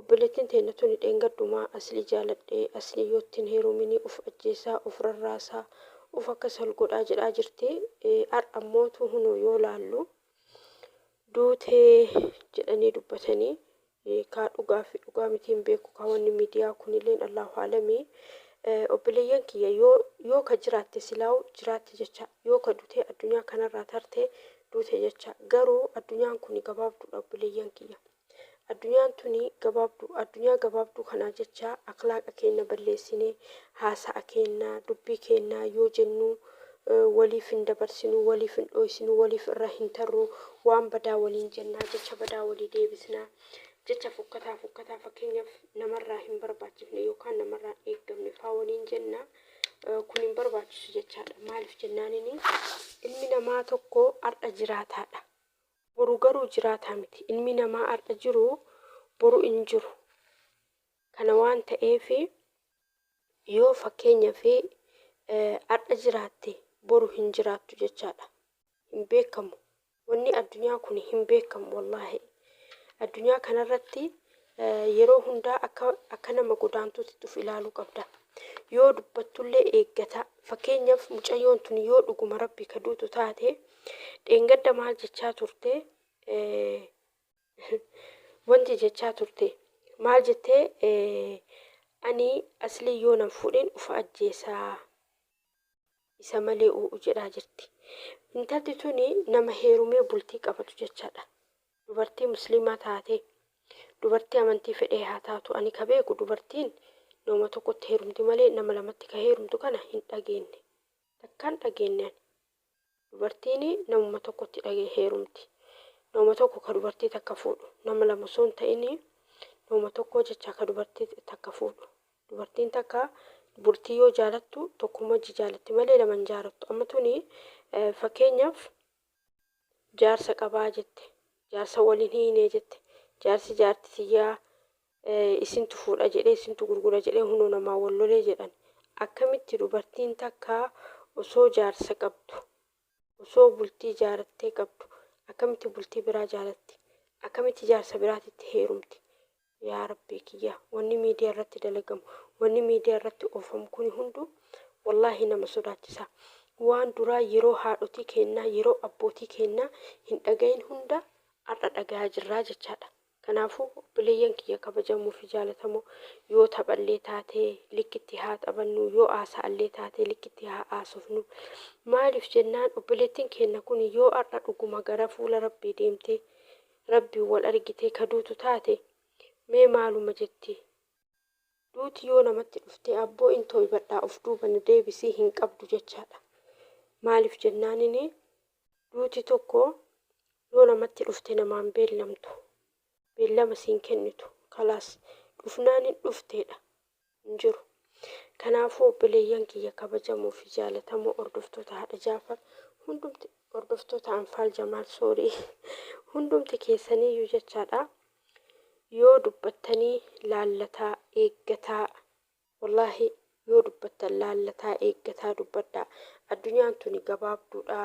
Obboleettin teenna tuni dheengadduma Aslii jaaladhe, Aslii yoo ittin heerumini uf ajjeessa, uf rarraasa, uf akkas hal godhaa jedhaa jirti. Ar'a immoo tuu hunoo yoo laallu duute jedhanii dubbatani. Kaa dhugaa fi dhugaa miti hin beeku kaa wanni miidiyaa kunileen Allaahu aalamii. Obboleeyyan kiyya yoo yoo ka jiraatte silaawu jiraatte jecha, yoo ka dutee addunyaa kanarraa tarte duute jecha. Garuu addunyaan kuni gabaabduudha obboleeyyan kiyya. Addunyaan tuni gabaabdu. Addunyaa gabaabduu kanaa jecha akhlaaqa keenna balleessine, haasa'a keenna, dubbii keenna yoo jennu waliif hin dabarsinu, waliif hin dhooysinu, waliif irra hin tarru, waan badaa waliin jenna, jecha badaa walii deebisna, jecha fokkataa fokkataa fakkeenyaaf namarraa hin barbaachifne yookaan namarraa hin eeggamne faa waliin jenna. Kun hin barbaachisu jechaadha. Maaliif jennaanini ilmi namaa tokko har'a jiraataadha. Boru garuu jiraataa miti. Ilmi namaa har'a jiru boru hin jiru. Kana waan ta'eef yoo fakkeenyaaf har'a jiraatte boru hin jiraattu jechaadha. Hin beekamu. Wanni addunyaa kun hin beekamu wallaahi. Addunyaa kanarratti Yeroo hundaa akka akka nama godaantuutitti of ilaaluu qabda. Yoo dubbattullee eeggataa. Fakkeenyaaf mucayyoon tuni yoo dhuguma Rabbii ka duutu taate dheengadda maal jechaa turte wanti jechaa turte maal jettee ani aslii yoo nan fuudhin ufa ajjeesaa isa malee uu'u jedhaa jirti. Intalti tuni nama heerumee bultii qabatu jechaadha. Dubartii musliimaa taatee dubartii amantii fedhee haa taatu ani ka beeku dubartiin nama tokkotti heerumti malee nama lamatti ka heerumtu kana hin dhageenne takkaa hin dhageenne ani dubartiin namuma tokkotti dhage heerumti nama tokko ka dubartii takka fuudhu nama lama osoo hin ta'in nama tokkoo jechaa ka dubartii takka fuudhu dubartiin takka bultii yoo jaalattu tokkuma jaalatti malee lama hin jaalattu amma tuni eh, fakkeenyaaf Jaarsa qabaa jette. Jaarsa waliin hiinee jette. Jaarsi jaarti tiyyaa isintu fuudha jedhee isintu gurgura jedhee hunoo namaa wal lolee jedhan. Akkamitti dubartiin takka osoo jaarsa qabdu osoo bultii jaarattee qabdu akkamitti bultii biraa jaalatti? Akkamitti jaarsa biraatitti heerumti? Yaa Rabbii kiyya wanni miidiyaa irratti dalagamu wanni miidiyaa irratti oofamu kuni hunduu wallaahi nama sodaachisa waan duraa yeroo haadhotii keennaa yeroo abbootii keennaa hin dhagayin hunda ar'a dhagayaa jirraa jechaadha kanaafuu obboleeyyan kiyya kabajamoo fi jaalatamoo yoo taphallee taate likkitti haa taphannuu yoo haasa'allee taate likkitti haa haasofnuu maaliif jennaan obboleettiin keenna kuni yoo ar'a dhuguma gara fuula Rabbii deemtee Rabbiin wal argitee ka duutu taate mee maaluma jetti? Duuti yoo namatti dhufte abboo in tooybadhaa of duuba na deebisii hin qabdu jechaadha. Maaliif jennaanin duuti tokko yoo namatti dhufte namaan beellamtu. Beellama siin kennitu. Kalaas dhufnaanin dhufteedha. hin jiru. Kanaafuu obboleeyyan kiyya kabajamoo fi jaalatamoo hordoftoota Haadha Jaafar hundumti hordoftoota Anfaal Jamaal sorry hundumti keessaniiyyuu jechaadha yoo dubbattanii laallataa eeggataa wallaahi yoo dubbattan laallataa eeggataa dubbadhaa addunyaan tuni gabaabduudha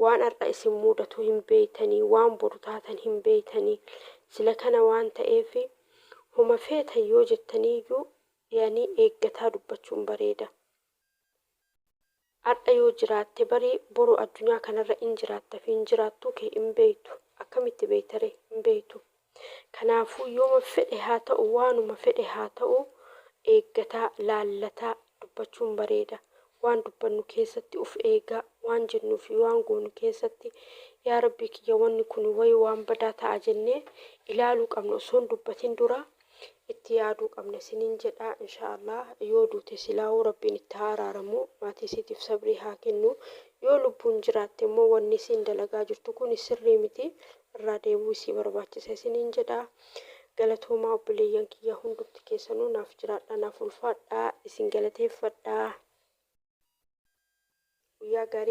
waan har'a isin muudatu hin beeytanii waan boru taatan hin beeytanii sila kana waan ta'eef Homa feetan yoo jettaniiyyuu dhiyanii eeggataa dubbachuun bareeda. Ardha yoo jiraatte bari boru addunyaa kanarra in jiraatta fi hin jiraattuu kee in beektu. Akkamitti beektaree? Hin beektu. Kanaafuu yooma fedhe haa ta'u waanuma fedhe haa ta'u eeggataa, laallataa, dubbachuun bareeda. Waan dubbannu keessatti uf eegaa, waan jennuu fi waan goonu keessatti yaa Rabbii kiyya wanni kuni wayii waan badaa ta'a jennee ilaaluu qabna osoo hin dubbatin dura itti yaaduu qabna isiniin jedha. Inshaa Allaah yoo duute silaahuu Rabbiin itti haa araaramu, maatii isiitiif sabrii haa kennu. Yoo lubbuun jiraatte immoo wanni isiin dalagaa jirtu kuni sirrii miti. irraa deebuu isii barbaachisa isiniin jedha. Galatoomaa obboleeyyan kiyya hundumti keessanuu naaf jiraadha naaf ulfaadha isin galateeffadha. Guyyaa gaarii.